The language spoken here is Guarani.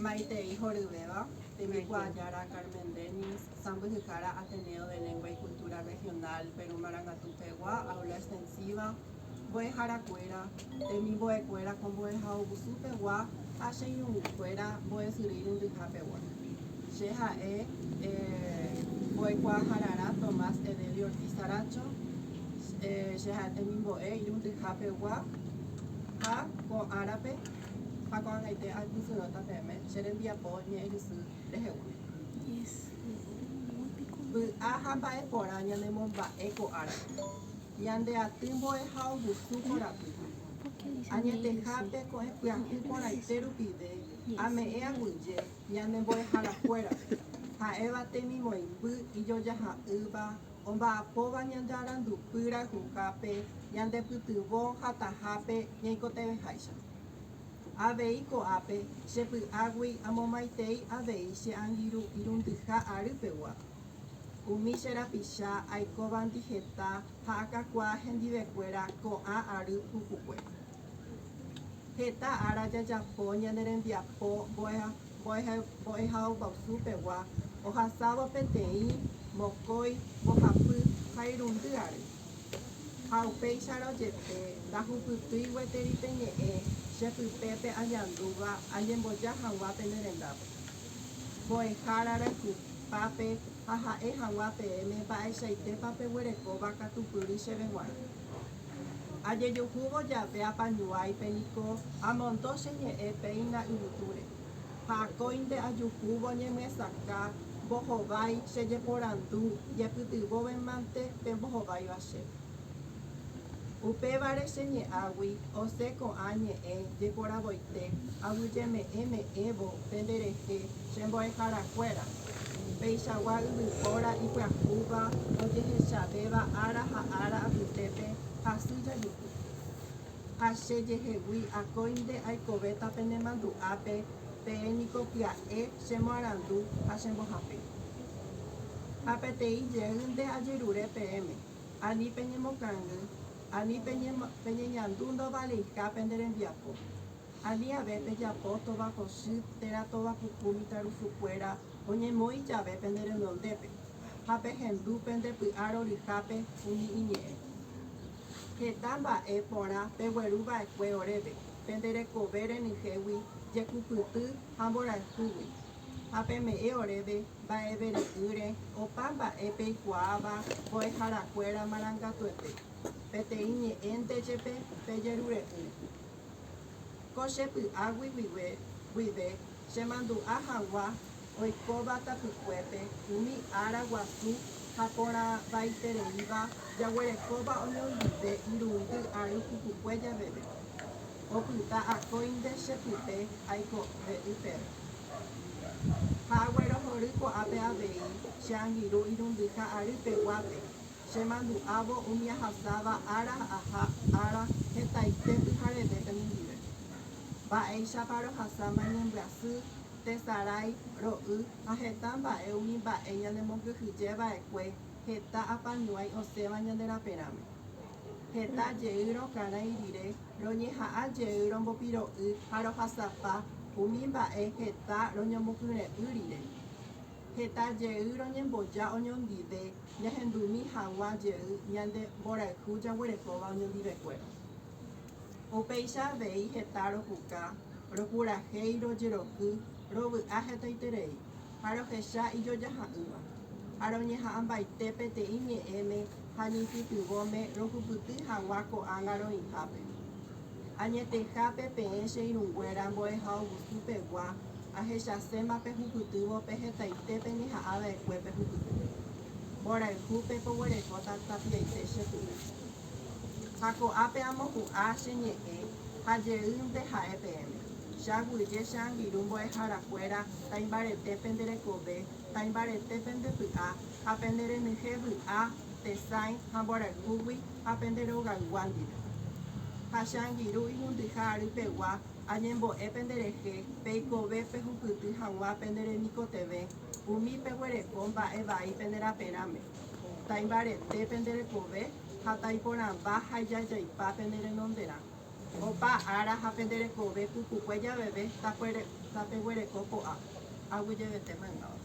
Maitei horyvéva, tembikuaa Jára Carmen Dennis, sãmbyhyhára Ateneo de Lengua y Cultura Regional Perú Marangatu pegua Aula Extensiva, mbo'ehára kuéra, temimbo'e kuéra ko mbo'ehaovusu pegua ha che irũngy kuéra mbo'esyry irundyha pegua. Che ha'e Mbo'ekuaahararã Tomás Edelio Ortiz Aracho, che ha'e temimbo'e irundyha pegua ha ko árape, Ha ko'ag̃aite aipytyvõta peẽme che rembiapo ñe'ẽhysy rehegua. Vy'a ha mba'e porã ñanemomba'e ko árape. Ñande aty mbo'eha ohusu korapy. Añetehápe ko'ẽ pyahu porãite rupive ame'ẽ aguyje ñane mbo'eharakuérape, ha'éva temimoĩmby ijojaha'ỹva omba'apóva ñandearandupy rayhuhápe ñandepytyvõ hatahápe ñaikotevẽháicha. Avei ko'ápe che py'águi amomaitei avei che angirũ irundyha ary pegua. Umi che rapicha aikovandi heta ha akakuaa hendivekuéra ko'ã ary pukukue. Heta ára jajapo ñane rembiapo mbo'ehaópe. mbo'ehaoguasu pegua ohasávo peteĩ mokõi mbohapy ha irundy ary. Ha upéicharõ jepe, ndahupytýi gueteri pe ñe'ẽ che pypépe añandúva añemboja hag̃ua pene rendápe. Mbo'ehára rayhupápe ha ha'e hag̃ua peẽme mba'eichaitépa peguerekóva katupyry chéve g̃uarã. Ajejuhúvo jave apañuáipe niko amondo che ñe'ẽ péina yvytúre, ha akóinte ajuhúvo ñemyesakã mbohovái che jeporandu jepytyvõvemante pe mbohováiva che. Upévare che ñe'ãgui osẽ ko'ã ñe'ẽ jeporavoite aguyjeme'ẽ me'ẽvo penderehe Che mbo'eharakuéra, peichagua yvypóra ipyahúva ojehechavéva ára ha ára apytépe hasy jajuhu. Ha che jehegui akóinte aikovéta pene mandu'ápe, peẽ niko pya'e che moarandu ha che mbohapy. Ha peteĩ jeýnte ajerure peẽme, ani peñemokangy, ani peñeñandu ndovaleiha pende rembiapo. Aniave pejapo tovakosy térã tovapuku mitãrusukuéra oñemoĩ jave pende renondépe, ha pehendu pende py'a roryhápe umi iñe'ẽ. Heta mba'e porã pegueru va'ekue oréve, pende rekove renyhégui, jekupyty ha mborayhúgui, ha peme'ẽ oréve mba'evere'ỹre opa mba'e peikuaáva mbo'eharakuéra marangatuete, peteĩ ñe'ẽnte jepe pejerure'ỹre. Ko che py'águi guive chemandu'a hagua oikóva tapykuépe umi ára guasu ha porãvaitereíva jaguerekóva oñondive irundy ary pukukue javeve. Opyta akóinte che pype aiko re'y peve. Ha aguerohory ko'ápe avei che angirũ irundyha ary peguápe. Chemandu'ávo umi ahasáva ára aja ára hetaite pyhareve penendive. Mba'éichapa rohasáma ñembyasy, tesarái, ro'y ha heta mba'e umi mba'e ñanemokyhyje va'ekue heta apañuãi osẽva ñande raperãme. Heta jey rokarãi rire roñeha'ã jey rombopiro'y ha rohasapa umi mba'e heta roñomokyre'ỹ rire. Heta jey roñemboja oñondive ñahendumi haguã jey ñande mborayhu jaguerekóva oñondivekuéra. Upéicha avei heta ropuka, ropurahéi, rojeroky, rovy'a hetaiterei, ha rohecha ijojaha'ỹva, ha roñeha'ãmbaite peteĩ ñe'ẽme ha ñeipytyvõme rohupyty haguã ko'ág̃a roĩhápe. Añetehápe peẽ che irũnguéra mbo'eha ogusu pegua, ahechaséma pehupytývo pe hetaite peñeha'ã va'ekue pehupyty. Mborayhu pepoguerekóta tapiaite che pu'u. Ha ko'ápe amopu'ã che ñe'ẽ ha jeýnte ha'e peẽme, che aguyje che angirũ mbo'eharakuéra taimbarete pende rekove, taimbarete pende py'a ha pende renyhẽ vy'a, tesãi ha mborayhúgui ha pende rogaygua ndive. Ha che angirũ ihundyha ary pegua añembo'e pende rehe peikove pehupyty hag̃ua pende remikotevẽ umi peguereko mba'e vai pende raperãme, taimbarete pende rekove ha taiporãmba ha ijajaipa pende renonderã. Opa ára ha pende rekove pukukue javeve tapeguereko ko'ã, aguyjevete maymáva.